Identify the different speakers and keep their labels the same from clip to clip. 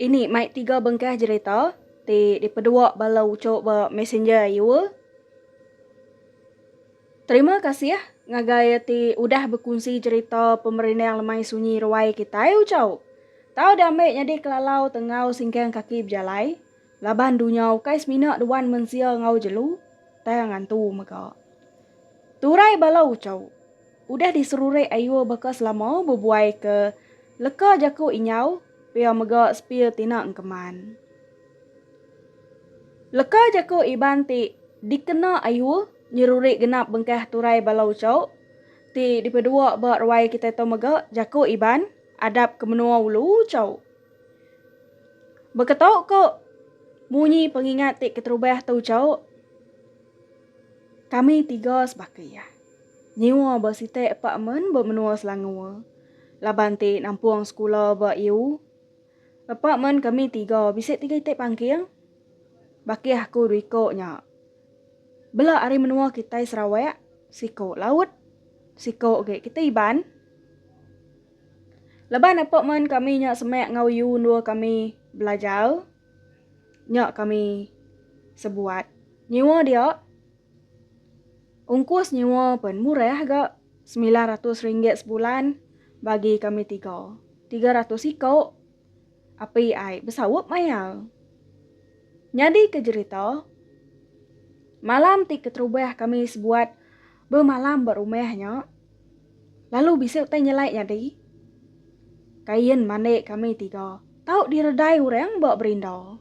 Speaker 1: Ini mai tiga bengkah jerita ti dipedua bala uchu ba messenger ayu. Terima kasih ngagai ti udah bekunsi jerita pemerindang lemai sunyi ruai kitai uchu. Tau dame nyadi kelalau tenggau singkang kaki bejalai laban dunya ukai semina duan mensia enggau jelu tang ngantu mega. Turai bala uchu udah diserurik ayu baka selama bebuai ke leka jaku inyau. Pia mega sepir tina engkeman. Leka jaku Iban ti dikena Ayuh nyerurik genap bengkah turai bala uchau ti dipedua ba ruai kitai tu mega jaku Iban adap ke menua ulu uchaw. Beketau ko munyi pengingat ti keterubah tu uchaw kami tiga sebaka iya. Nyiwa ba sitak apartmen ba menua Selangor laban ti nampung sekula ba iu. Apartmen kami tiga bisi tiga itik pangking. Baki aku dua iko nya. Bela ari menua kitai Sarawak, siko laut, siko agi kitai Iban. Laban apartmen kami nya semak enggau iu endur kami belajar nya kami sebuat nyiwa dia. Ungkus nyewa pen murah ga semilan ratus ringgit sebulan bagi kami tiga. Tiga ratus iko api ai besaup mayar. Nyadi ke jerita malam ti keterubah kami sebuat bemalam ba rumah nya lalu bisi utai nyelai nyadi kain mandi kami tiga tau diredai orang ba berinda.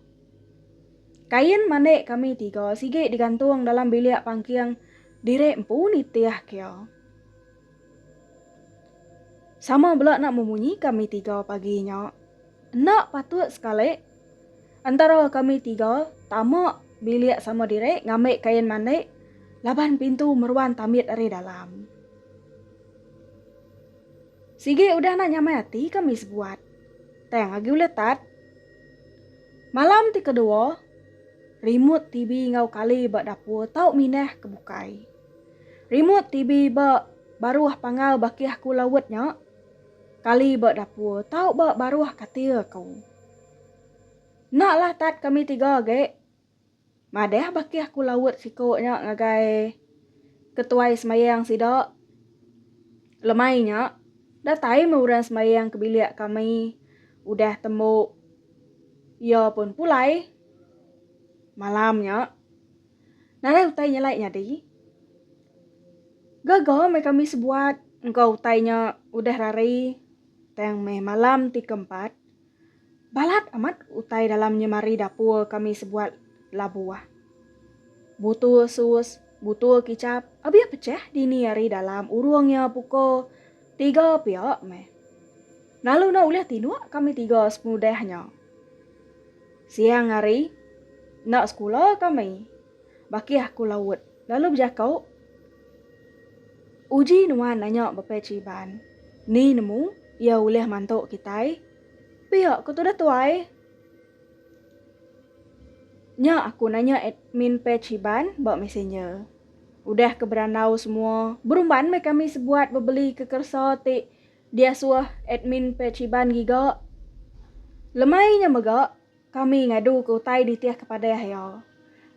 Speaker 1: Kain mandik kami tiga sigi digantung dalam bilik pangking diri empu nitih kia. Sama bela nak memunyi kami tiga pagi nya. Enda patut sekali entara kami tiga tama bilik sama diri ngambi kain mandik laban pintu meruan tambit ari dalam. Sigi udah nak nyamai ati kami sebuat. Tang agi ulih tat. Malam ti kedua, rimut TV enggau kali ba dapur tau minah ke bukai. Rimut TV ba baruh panggau bakih aku laut nya, kali ba dapur tau ba baruh katil aku. Enda lah tat kami tiga agi. Madah baka aku laut siko nya ngagai ketuai semayang sida lemai nya datai meh orang semayang ke bilik kami udah tembu iya pun pulai malam nya nadai utai nyelai nyadi gaga meh kami sebuat engka utai nya udah hari tang meh malam ti keempat. Balat amat utai dalam nyemari dapur kami sebuat labuh. Butur sus, butur kicap abih pechah dini ari dalam urung nya pukul tiga pia meh. Lalu enda ulih tinduk kami tiga sepenudah nya. Siang hari, enda sekula kami. Bakih aku laut lalu bejaku. Uji nuan nanya Bepai Chiban, Ni nemu iya ulih mantu kitai? Pia ku tudah tuai. Nya aku nanya admin Pai Chiban ba messenger. Udah ke berandau semua, berumban meh kami sebuat bebeli ke keresa ti diasuh admin Pai Chiban giga. Lemai nya mega. Kami ngadu ke utai nitih ke padah iya.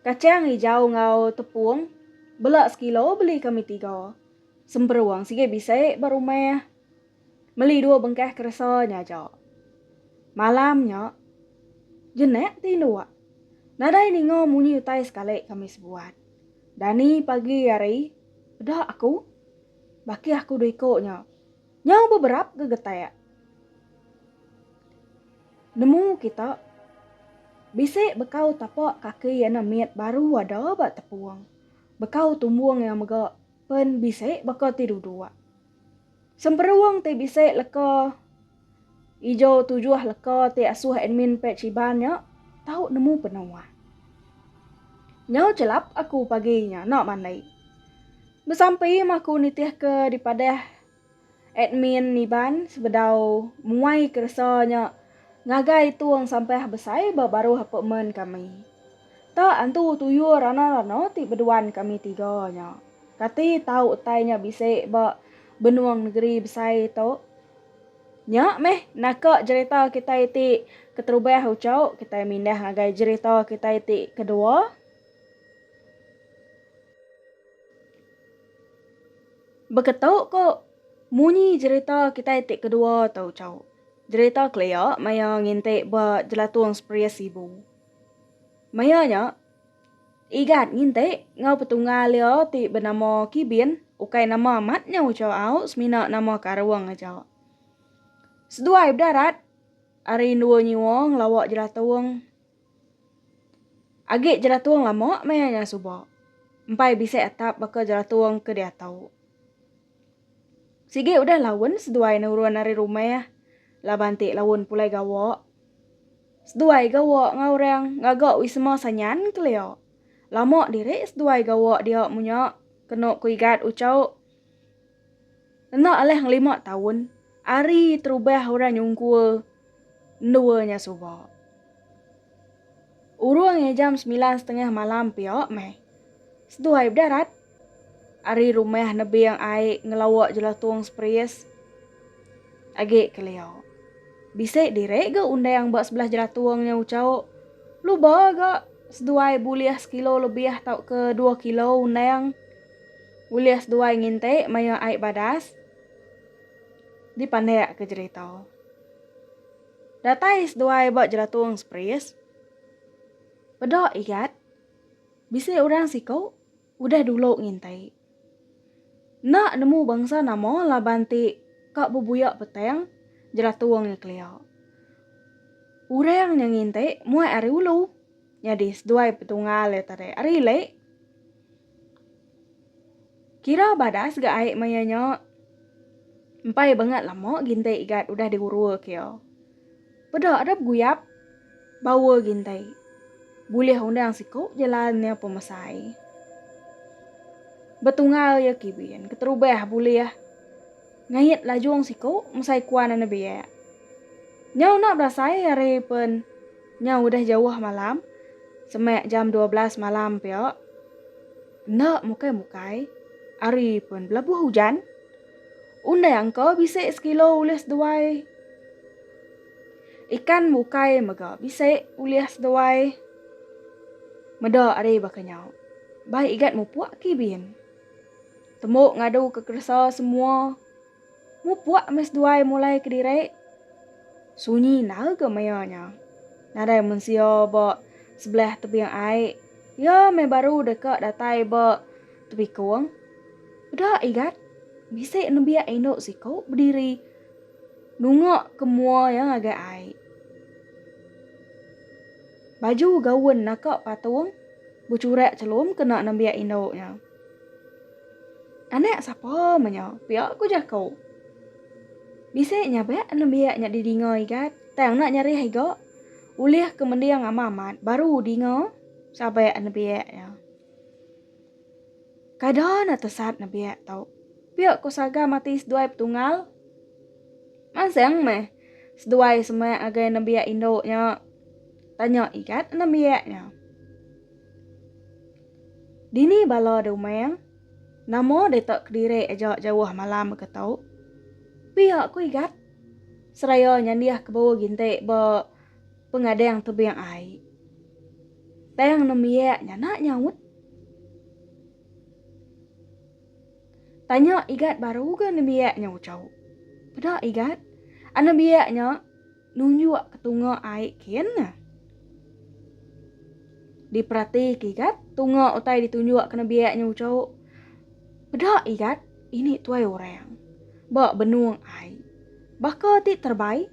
Speaker 1: Kachang ijau enggau tepung bela sekilo beli kami tiga. Semperung sigi bisi ba rumah. Meli dua bengkah keresa nya aja. Malam nya jenak ti induk. Nadai ninga munyi utai sekali kami sebuat. Dani pagi hari peda aku. Baki aku dua iko nya. Nyau beberap gegetak nemu kita bisi bekau tapak kaki yana mit baru ada ba tepung. Bekau tumbung iya mega pen bisi baka ti duduk. Semperung ti bisi leka. Ijo tujuh leka ti asuh admin page Iban nya tau nemu penua. Nyau chelap aku pagi nya enda mandai. Besampi meh aku nitihka dipadah admin Iban sebedau muai keresa nya ngagai itung sampah besai ba baruh apartment kami. Ta antu tuyul rana-rana ti beduan kami tiga nya. Kati tau utai nya bisi ba benung negeri besai tu? Nya meh naka jerita kitai ti keterubah uchauk kitai mindah ngagai jerita kitai ti kedua. Beketuk ko munyi jerita kitai ti kedua tu uchauk. Jerita kelia maya nginti ba jelatung Seperia Sibu. Maya nya. Igat nginti enggau petunggal iya ti benama Kibin ukai nama amat nya ucha au semina nama ke Arung aja. Seduai bedarat ari endua nyiwa ngelawa jelatung. Agi jelatung lama maya nya suba. Empai bisi atap baka jelatung ke diatu. Sigi udah laun seduai nurun ari rumah laban ti laun pulai gawa. Seduai gawa enggau orang ngaga wisma sanyan kelia. Lama diri seduai gawa dia munya kenu ku Igat uchau. Enda alih ngelima taun ari terubah orang nyungkur Endua nya suba. Urung ngi jam semilan setengah malam pia meh. Seduh ai bedarat. Ari rumah nebing ai ngelawa jelatung seperis. Agi kelia. Bisi diri ga undang ba sebelah jelatung nya ucau. Luba ga seduai bulih sekilo lebih tauka dua kilo undang. Ulih seduai nginti maya ai badas. dipandik ke jerita. Datai seduai ba jeratung Spris, peda igat bisi orang siku udah dulu ngintai. Enda nemu bangsa nama laban ti ka bebuya petang jeratung nya kelia. Orang nya ngintai muai ari ulu, nyadi seduai petunggal iya tadi ari ili. Kira badas ga ai maya nya. Empai bangat lama gintai igat udah digurua kia. Peda ada beguyap bawa gintai. Bulih undang siku jalan nya pemesai. Betunggal ya kibin keterubah bulih. Ngait lajung siku mesai kuan enda biak. Nyau enda berasai hari pen nyau udah jauh malam semak jam dua belas malam pia enda mukai mukai hari pen belabuh ujan undai angka bisi sekilo ulih seduai ikan mukai mega bisi ulih seduai meda hari baka nyau bai igat mupuk kibin. Tembu ngadu ke keresa semua. Mupuk meh seduai mulai kediri. Sunyi enda ga maya nya. Nadai mensia ba sebelah tebing ai. Iya meh baru deka datai ba tebikung. Peda Igat bisi nembiak indu siku bediri nunga ke mua iya ngagai ai. Baju gaun naka patung bechurak chelum kena nembiak indu nya. Anak sapa meh nya pia ku jaku. Bisi nyabak nembiak nya didinga Igat tang enda nyarih iga ulih ke mending amat-amat baru dinga sabak nembiak nya. Kada enda tesat nebiak tu. Pia ko Saga mati seduai betunggal. Mansang meh seduai semak ngagai nembiak indu nya? Tanya Igat nembiak nya. Dini bala de umang? Nama deta kediri aja jauh malam mega tu? Pia ko Igat seraya nyandih kebau ginti ba. Pengadang tebing ai. Tang nembiak nya nak nyaut. Tanya Igat baru ga nembiak nya ucau. Peda Igat. Anembiak nya nunjuk ke tunga ai kin. Diperati ke Igat, tunga utai ditunjuk ke nembiak nya ucau. Peda Igat, ini tuai orang. Ba benung ai. Baka ti terbai.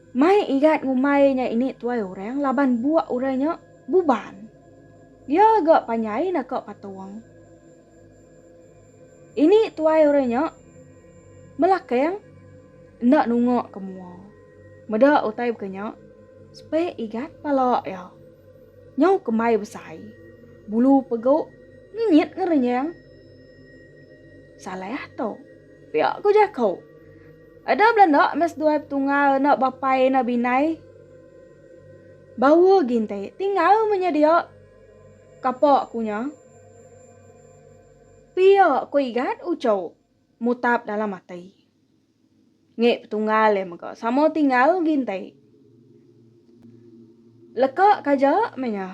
Speaker 1: Mai igat ngumbai nya ini tuai orang laban buak orang nya buban. Dia ga panjai naka patung. Ini tuai orang nya melakang enda nunga ke mua. Meda utai baka nya, sepe igat pala iya. Nyau kembai besai. Bulu pegu ngenyit ngerenyang. Salah tu. Pia ku jaku. Ada bela enda meh seduai petunggal anak bapai ina binai. Bawa gi enti tinggal meh nya dia. Kapa ku nya? Pia ku Igat uchu mutap dalam ati. Ngi petunggal iya mega sama tinggal gi enti. Leka kaja meh nya.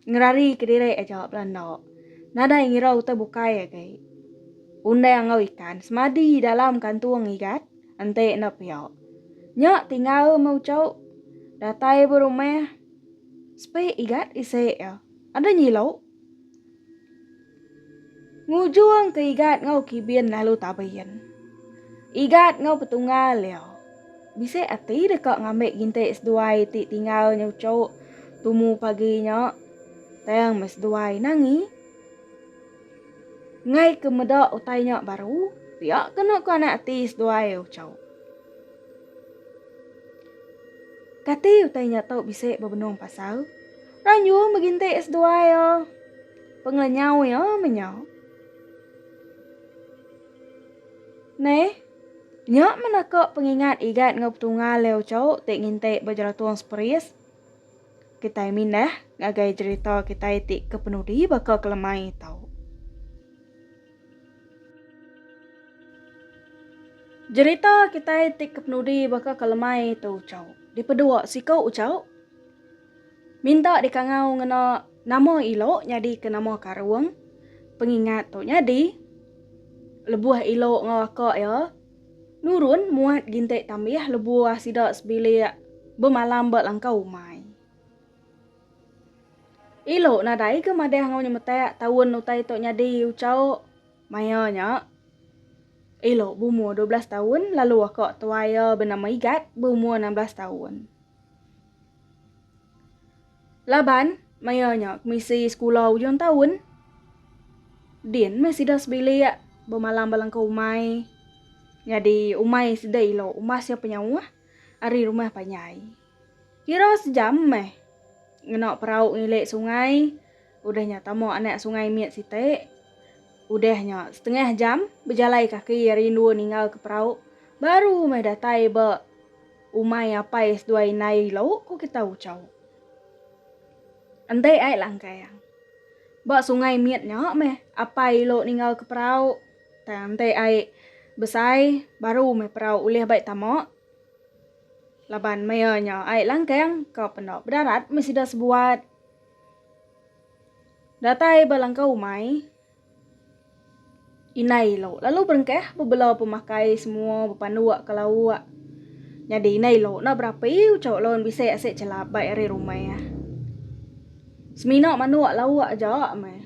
Speaker 1: Ngerari kediri aja bela enda nadai ngira utai bukai agi. Undang enggau ikan semadi dalam kantung igat enti enda pia. Nya tinggal meh uchu datai ba rumah sepi igat isi iya. Ada nyilu. Ngujung ke Igat enggau Kibin lalu tabin. Igat enggau Petunggal iya. Bisi ati deka ngambi gintik seduai ti tinggal nyucuk tumu pagi nya tang meh seduai nangi. Ngai ke meda utai nya baru, pia kenu ke anak ati seduai ucuk. Kati utai nya tu bisi bebenung pasal? Ranjung begintik seduai iya. Pengenyau iya menya. Neh, nya meneka pengingat Igat enggau Petunggal Leo Chou ti nginti ba Jeratung Seperis. Kitai mindah ngagai jerita kitai ti kepenudi baka ke lemai tu. Jerita kitai ti kepenudi baka ke lemai tu, Chou. Dipedua siku, Chou. Minta dikangau ngena nama ilo nyadi ke nama karung pengingat tu nyadi lebuh ilo enggau aka iya nurun muat gintik tambih lebuh sida sebilik bemalam ba langkau umai. Ilo nadai ke madah enggau nyemetak taun utai tu nyadi ucau maya nya ilo beumur dua belas taun lalu aka tuai iya benama Igat beumur enam belas taun. Laban, maya nya kemisi sekula ujung taun, din meh sida sebilik bemalam belengkau umai. Nyadi umai sida ilo umas iya penyauh ari rumah panjai. Kira sejam meh ngena perau ngilik sungai. Udah nya tama anak sungai mit siti. Udah nya setengah jam bejalai kaki ari endur ninggal ke perau baru meh datai ba umai apai seduai indai ilo ku kita Uchau. Enti ai langkang. Ba sungai mit nya meh apai ilo ninggal ke perau tang enti ai besai baru meh perau ulih bai tama laban maya nya ai langkang ka penda bedarat meh sida sebuat. Datai ba langkau umai Inai Ilo lalu berengkah bebela pemakai semua bepanduk ke lauk. Nyadi Inai Ilo enda berapi ucau laun bisi asik chelap bai ari rumah. Semina manduk lauk aja meh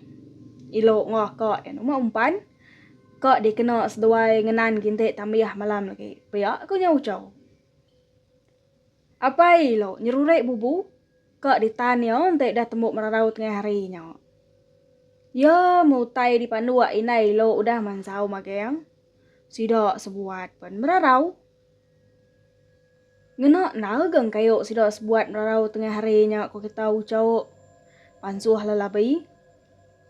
Speaker 1: Ilo enggau aka iya umak umpan ka dikena seduai ngenan gintik tambih malam lagi pia ku nya ucau. Apai lo nyerurik bubu ka ditan iya enti dah tembu merarau tengah hari nya. Iya meh utai dipanduk indai lo udah mansau magang. Sida sebuat pen merarau. Ngena enda geng kayu sida sebuat merarau tengah hari nya ko kita ucok pansuh lelabi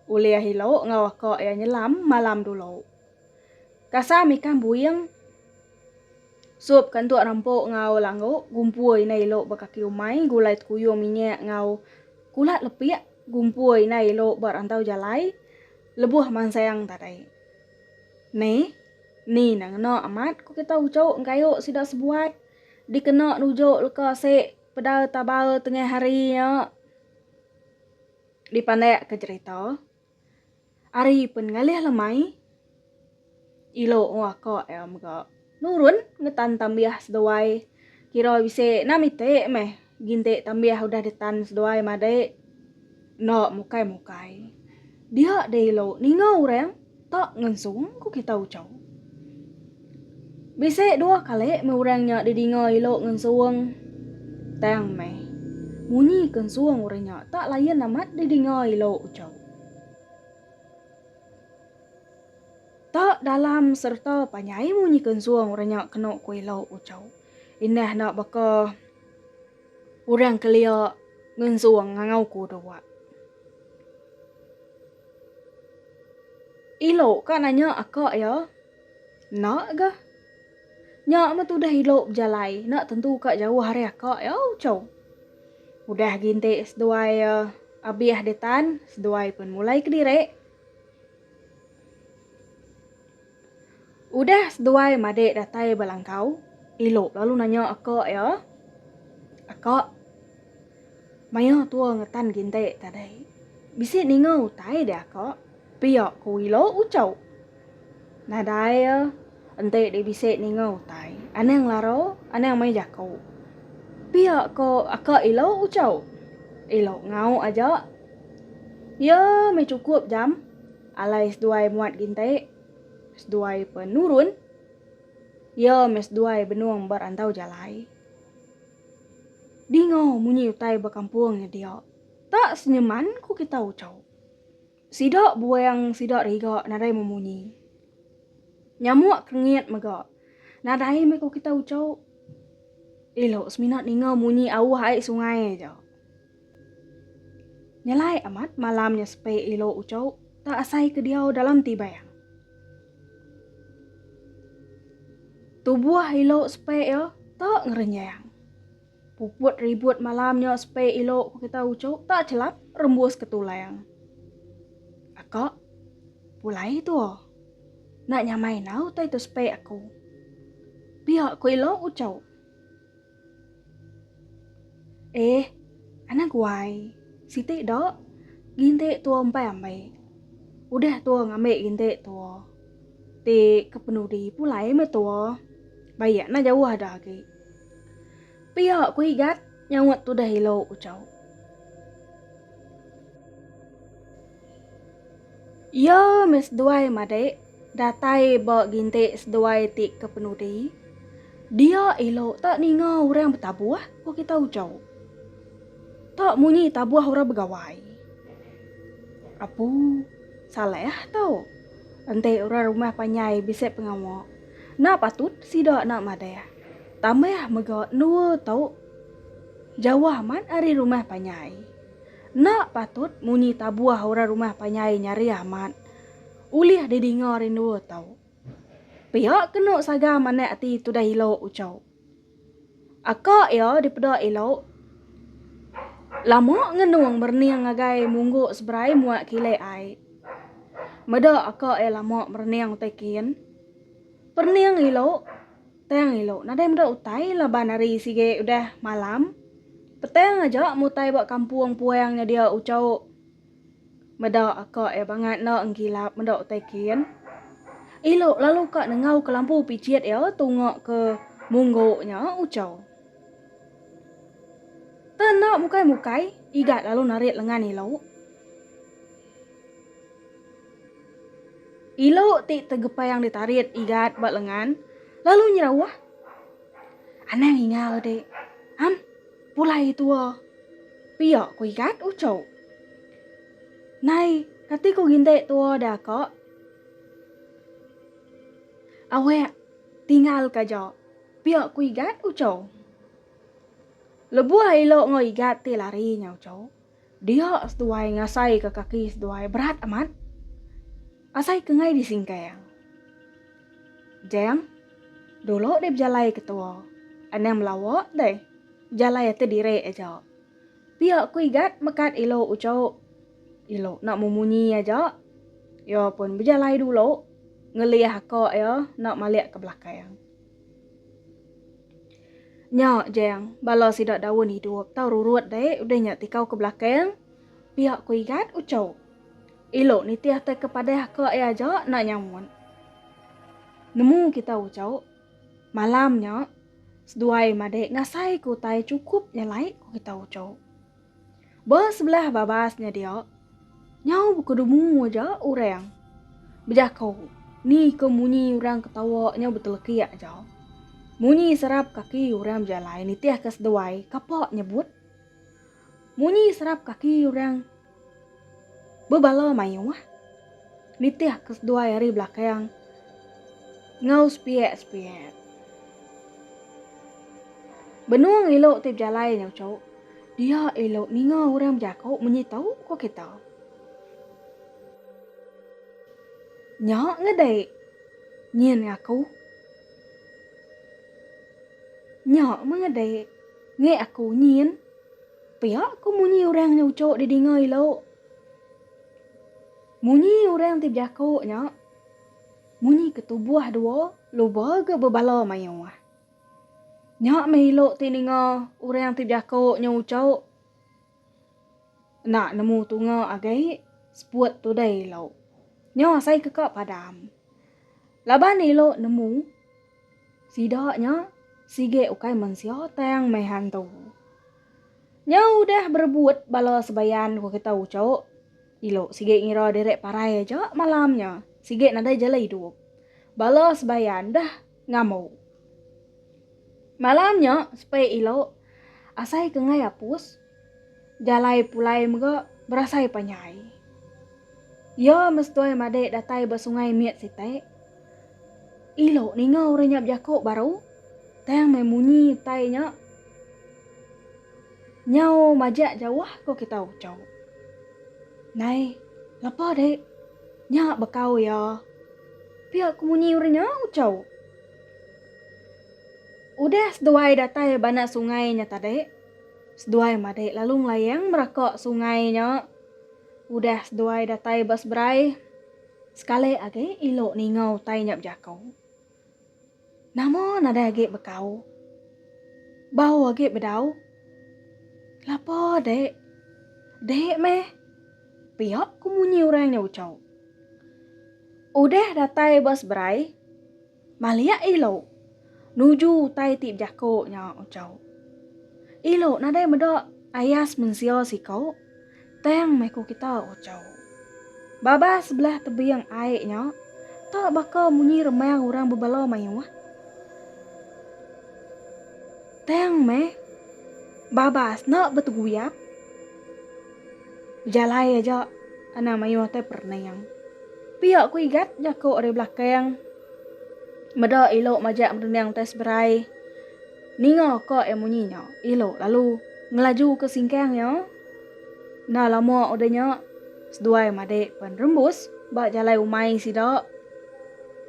Speaker 1: ulih ilo enggau aka iya nyelam malam dulu. Kasam ikan buing sup ke entuk rempuk enggau langgu, gumpur indai ilok ba kaki umai, gulai tekuyung minyak enggau kulat lepik, gumpur indai ilok ba rantau jalai, lebuh mansang tadai. Neh, ni neh ngena amat ku kita ucuk engkayuk sida sebuai dikena nujuk leka se peda taba tengah hari nya dipandak ke jerita. Ari pen ngalih lemai ilo ngua ka iya mega nurun ngetan tambih seduai kira bisi enam iti meh ginti tambih udah ditan seduai madai enda mukai mukai dia deh ilo ninga orang tak ngensung ku kita uchau. Bisi dua kali meh orang nya didinga ilo ngensung tang meh munyi ke ensung orang nya tak layan amat didinga ilo uchu. Tak dalam sereta panjai munyi ke ensung orang nya keno ku ilo uchu. Indah enda baka orang kelia ngensung ngangau ku dua. Ilo ka nanya aka iya. Enda ga. Nya meh tudah ila bejalai. Enda tentu ka jauh ari aka iya ucau. Udah agi enti seduai abih di tan, seduai pun mulai kediri. Udah seduai madik datai ba langkau, ila lalu nanya aka iya, Aka. Maya tua ngetan ginti tadi, bisi ninga utai dia ka pia ku Wilo ucau. Nadai iya enti deh bisi ninga utai, anang lara anang mai jaku. Pia ko aka Ilo ucau. Ilo ngau aja. Iya meh cukup jam alai seduai muat ginti, seduai penurun. Iya meh seduai benung ba rantau jalai. Dingau munyi utai ba kampung nya dia. Tak senyeman ku kita ucau. Sida buang sida riga nadai memunyi. Nyamuk kerengit mega nadai meh ku kita ucau. Elo semina ninga munyi auh ai sungai aja. Nyelai amat malam nya sepe ilo uco ta asai ke diau dalam ti bayang. Tubuh ilo sepe ia ta ngerenjang. Puput ribut malam nya sepe ilo ku kita uco ta chelap rembus ke tulang. Aka, pulai tua. Nak nyamai enggau utai tu sepe aku. Pia ku ilo uco. Eh, anak guai, siti do gintik tua empai ambi. Udah tua ngambi gintik tua. Ti kepenudi pulai meh tua. Bayak nah jauh ada agi. Pia ku Igat nyaut tudah ilo Ujau. Iya meh seduai madik Datai ba gintik seduai ti ke penudi, dia elo tak ninga orang betabuh ko kita ujo. Tak munyi tabuh orang begawai. Apu salah tu. Enti orang rumah panjai bisi pengawa, enda patut sida enda madah. Tambah mega endua tu jauh amat ari rumah panjai. Enda patut munyi tabuh orang rumah panjai nyarih amat. Ulih didinga rindua tau. Pia kenu saga manah ati tudah ilo ucau. Aka iya dipeda ilo lama ngenung merening ngagai munggu seberai muak kilik ai. Meda aka iya lama merening utai kin. Perening ilo tang ilo nadai meda utai laban hari sigi udah malam. Petang aja mutai ba kampung puang nyedia ucau. Meda ka iya bangat enda enggilap meda utai kin. Elo lalu ka nengau ke lampu pijit iya tunga ke munggu nya Ucau. Teh enda mukai-mukai, Igat lalu narit lengan Elo. Elo ti tegepang ditarit Igat ba lengan lalu nyerauh, Anang inga udik. Am. Pulai tua pia ku igat uchu. Nai kati ku gindik tua da ka. Awek tingal ka ja pia ku igat uchu. Lebuh ilo enggau igat ti lari nya uchu. Dia seduai ngasaika kaki seduai berat amat. Asai ke ngai disingkang. Jang, dulu deh bejalai ke tua. Anang melawa deh. Bejalai ati diri aja. Pia ku Igat mekat ilu uchu. Ilu enda memunyi aja. Iya pun bejalai dulu ngelih aka iya enda malik ke belakang. Nya, Jang, bala sida daun idup tau rurut deh udah nya tikau ke belakang. Pia ku Igat ucau. Elo nitih tai ke padah ka iya aja enda nyaut. Nemu kita ucau. Malam nya seduai madah ngasai ke utai chukup nya alai ku kita ucau. Ba sebelah babas nya dia, nyau bekedemu aja orang bejako ni ke munyi orang ketawa nyau betelekik aja. Munyi serap kaki orang bejalai nitihka seduai kapa nyebut. Munyi serap kaki orang. Bebala mayuh nitih ke seduai ari belakang enggau sepiak-sepiak. Benung elu ti bejalai nyau cu, dia elu ninga orang bejaku munyi tu ku kita. Nya ngedai nyin ngaku. Nya meh ngedai ngi aku nyin. Pia ko munyi orang nya ucho di dinga ilo. Munyi orang ti bejako nya munyi ke tubuh dua luba ga bebala maioh. Nya meh ilo ti ninga orang ti bejako nya ucho enda nemu tunga agai seput tudai ilo. Nya asai ke ka padam. Laban ilo nemu. Sida nya sigi ukai mensia tang meh hantu. Nya udah berebut bala sebayan ku kita ucok, dilu sigi ngira diri parai aja malam nya sigi nadai jala idup. Bala sebayan dah ngambu. Malam nya sepi ilu asai ke ngai apus. Jalai pulai mega berasai panjai. Iya mesetui madik datai ba sungai mit siti. Ilo ninga orang nya bejako baru, tang meh munyi utai nya. Nyau majak jauh ko kita ucho. Nai, lepa dik. Nya bekau iya. Pia ko munyi orang nya ucho. Udah seduai datai ba anak sungai nya tadi. Seduai madik lalu ngelayang meraka sungai nya. Udah seduai datai ba seberai, sekali agi ilo ninga utai nya bejako. Nama nadai agi bekau. Bau agi bedau. Lapa dik? Dik meh. Pia ku munyi orang nya ucho. Udah datai ba seberai. Maliak ilo. Nuju utai ti bejako nya ucau. Ilo nadai meda ayas mensia siko tang meh ko kita ucau. Babas sebelah tebing ai nya ta baka munyi remang urang bebala maioh. Tang meh babas enda beteguyap. Jalai aja anang mayuh te perening. Pia ku Igat jaku ari belakang. Meda ilu majak merening te seberai. Ninga ka iya munyi nya, ilu lalu ngelaju ke singkang iya. Enda lama udah nya, seduai madik pen rembus ba jalai umai sida.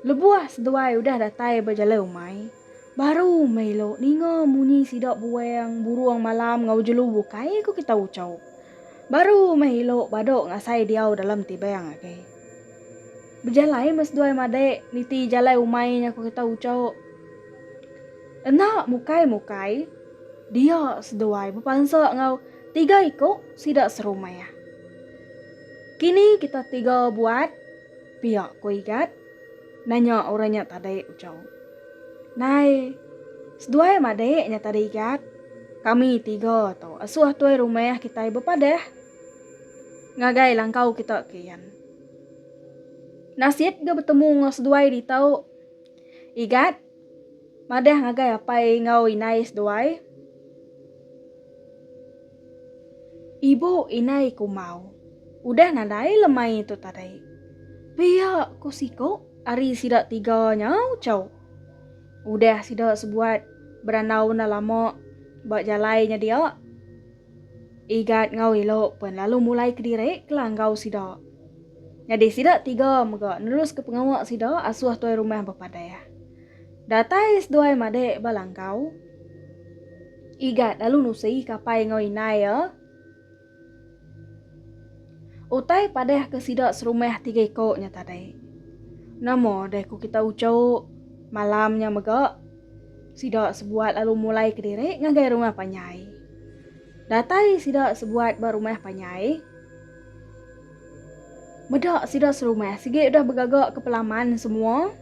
Speaker 1: Lebuh seduai udah datai ba jalai umai. Baru meh elo ninga munyi sida buang burung malam enggau jelu bukai ku kita ucho. Baru meh elo bado ngasai diau dalam tibang agi. Bejalai meh seduai madik niti jalai umai nya ku kita ucho. Enda mukai-mukai dia seduai bepansa enggau tiga iko sida serumah. Kini kita tiga buat pia ku Igat. Nanya orang nya tadi ucau. Nai, seduai madik nya tadi igat. Kami tiga tu asuh tuai rumah kitai bepadah. Ngagai langkau kita kian. Nasit ga betemu enggau seduai ditu. Igat, madah ngagai apai enggau indai seduai. Ibu indai kumau. Udah nadai lemai tu tadi. Pia ku siku ari sida tiga nya Chau. Udah sida sebuat berandau enda lama ba jalai nya dia Igat enggau Elo pen lalu mulai kediri kela enggau sida. Nyadi sida tiga mega neruska pengawa sida asuh tuai rumah bepadah. Datai seduai madik ba langkau. Igat lalu nusi kapai enggau indai iya. Utai padah ke sida serumah tiga iko nya tadi. Nama deh ku kita uchuk malam nya mega. Sida sebuat lalu mulai kediri ngagai rumah panjai. Datai sida sebuat ba rumah panjai. Meda sida serumah sigi udah begaga ke pelaman semua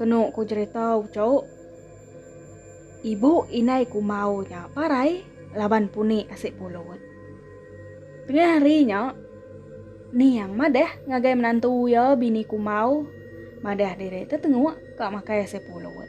Speaker 1: kenu ku jerita ucuk. Ibu indai kumbau nya parai laban puni asi pulut. Tengah hari nya Niang madah ngagai menantu iya bini kumbau madah diri tetenguk ka makai asi pulut.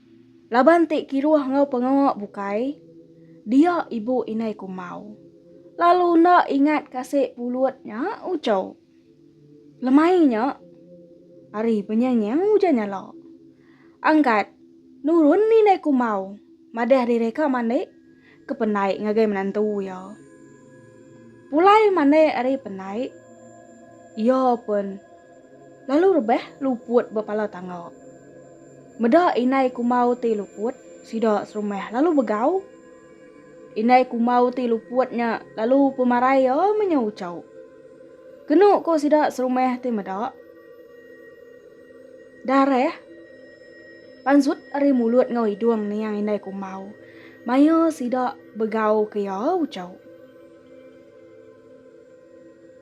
Speaker 1: Laban ti kiruh enggau pengawa bukai, dia ibu indai kumbau lalu enda ingat kasi pulut nya ucho. Lemai nya ari penyengiu ujan nyala. Angkat nurun indai kumbau madah diri ka mandi ke penai ngagai menantu iya. Pulai mandai ari penai, iya pun lalu rebah luput ba pala tangga. Meda indai kumau ti luput, sida serumah lalu begau. Indai kumau ti luput nya lalu pemarai iya menya uchau. Kenu ko sida serumah ti meda, Darah panzut ari mulut enggau idung niang indai kumbau maya sida begauka iya uchau.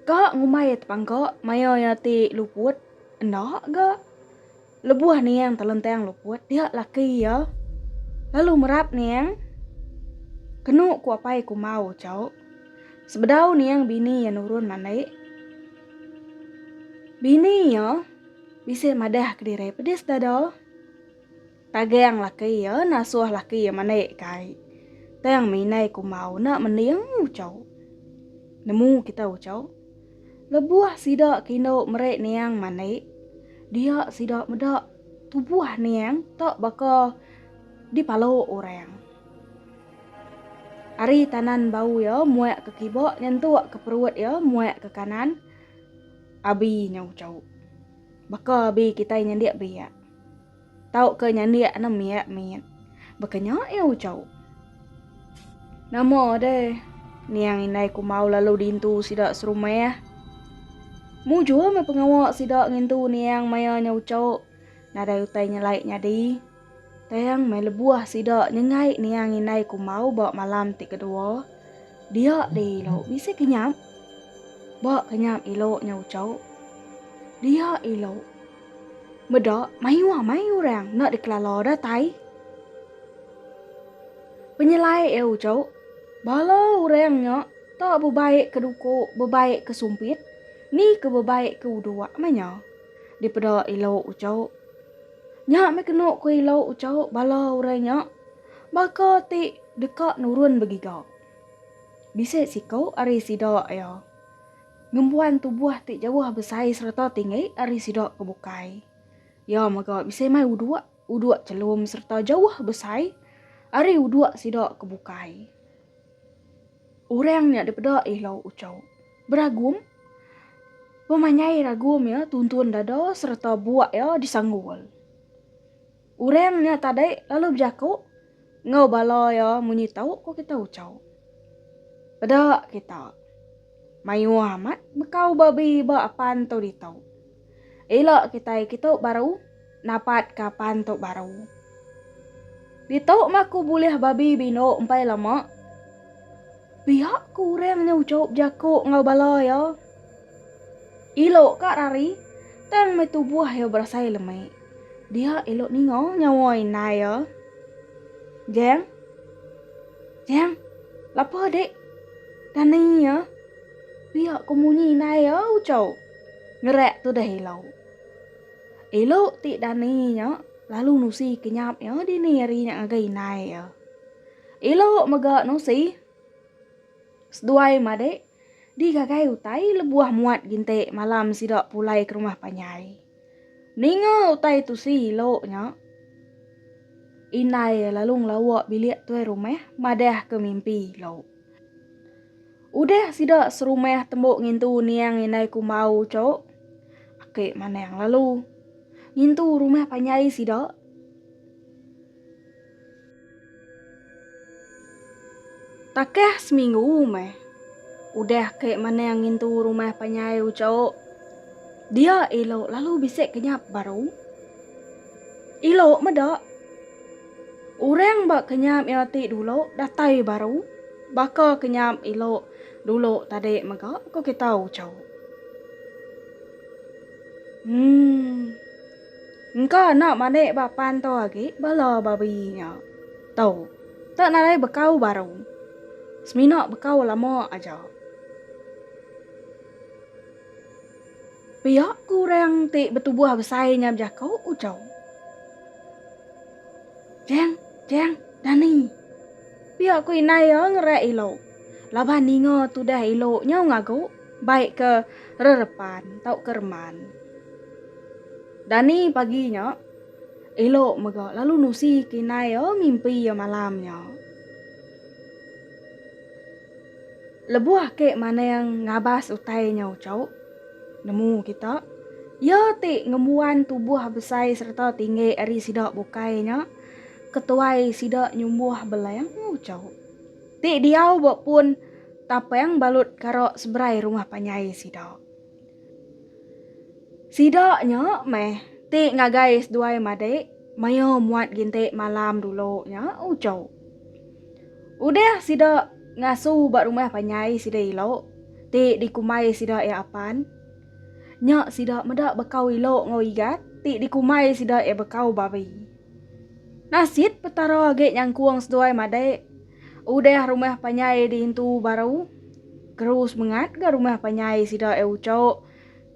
Speaker 1: Ka ngumbai iya tepangka maya iya ti luput enda ga lebuh niang telentang luput dia laki iya lalu merap niang kenu ku apai kumbau uchauk. Sebedau niang bini iya nurun mandai, bini iya bisi madah kediri pedis dada. Tagang laki iya nasuh laki iya mandai ke ai. Tang minai kumbau enda mending ucau. Nemu kita ucau? Lebuh sida ke indu meri niang mandai, dia sida meda tubuh niang tak baka dipalu orang. Ari tanan bau iya muek ke kibok nyentuk ke perut iya muek ke kanan abi nya ucau. Baka abi kitai nyendik biak tau ke nyendik anu miek mit baka nya iya ucau. Nama deh niang indai kumbau lalu dintu sida serumah. Mujur meh pengawa sida ngintu niang maya nya ucau nadai utai nyelai nyadi. Tang meh lebuh sida nyengai niang indai kumau ba malam ti kedua, dia deh ilo bisi kenyap. Ba kenyap ilo nya ucau, dia ilo meda mayuh amai orang enda dikelala datai. Penyelai iya ucau, bala orang nya tak bebaik ke duku, bebaik ke sumpit, ni ke bebaik ke uduk meh nya. Dipeda ilo ucau. Nya meh kenu ku ila ucau bala orang nya baka ti deka nurun begiga. Bisi siku ari sida iya ngembuan tubuh ti jauh besai sereta tinggi ari sida ke bukai. Iya mega bisi mai uduk, uduk chelum sereta jauh besai ari uduk sida ke bukai. Orang nya dipeda ila ucau. Beragum, Pemanyai ragum iya tuntun dada sereta buak iya disanggul. Orang nya tadi lalu bejaku enggau bala iya munyi tau ko kita ucau. Peda kita. Mayuh amat bekau babi ba apan tu ditu. Ila kitai kitu baru napat ka pan tu baru. Ditu mah ku bulih babi bindu empai lama. Pia ku urang nya ucup jaku enggau bala iya. Ila ka rari tang meh tubuh iya berasai lemi. Dia ila ninga nyawa indai iya. Jang. Jang. Lapa dik. Dani iya. Pia ku munyi indai iya ucup. Ngerak tudah Elo. Elo ti dani nya lalu nusi kenyap iya dini hari nya ngagai indai iya. Elo mega nusi seduai madik digagai utai lebuh muat ginti malam sida pulai ke rumah panjai. Ninga utai tusi Elo nya, indai iya lalu ngelawa bilik tuai rumah madahka mimpi Elo. Udah sida serumah tembu ngintu niang indai kumbau tu, aki Manang lalu ngintu rumah panjai sida. Takah seminggu meh, udah aki Manang ngintu rumah panjai tu, dia elo lalu bisi kenyap baru. Elo meda. Orang ba kenyam iya ti dulu datai baru, baka kenyam ilo dulu tadi mega, ku kita uchu. Emm. Engka enda manik ba pan tu agi bala babi nya. Tu. Tu nadai bekau baru. Semina bekau lama aja. Pia ku orang ti betubuh besai nya bejaku, uchau. Cheng, cheng, dani. Pia ku indai iya ngereak ilu. Laban ninga tudah ilu nyau ngagu bai ke rerepan tauka reman. Dani pagi nya ilu mega lalu nusi ke indai iya mimpi iya malam nya. Lebuh ake maneng ngabas utai nyau chauk nemu kita, iya ti ngembuan tubuh besai sereta tinggi ari sida bukai nya ketuai sida nyumbuh beleng nyau chauk ti diau ba pun tapeng balut kara seberai rumah panjai sida. Sida nya meh ti ngagai seduai madik maya muat gintik malam dulu nyau chauk. Udah sida ngasu ba rumah panjai sida ilo ti dikumbai sida iya apan. Nya sida meda bekau ilo enggau Igat ti dikumbai sida iya bekau babi. Nasit Petara agi nyangkung seduai madai udah rumah panjai diintu baru. Keru semengat ga rumah panjai sida iya ucho.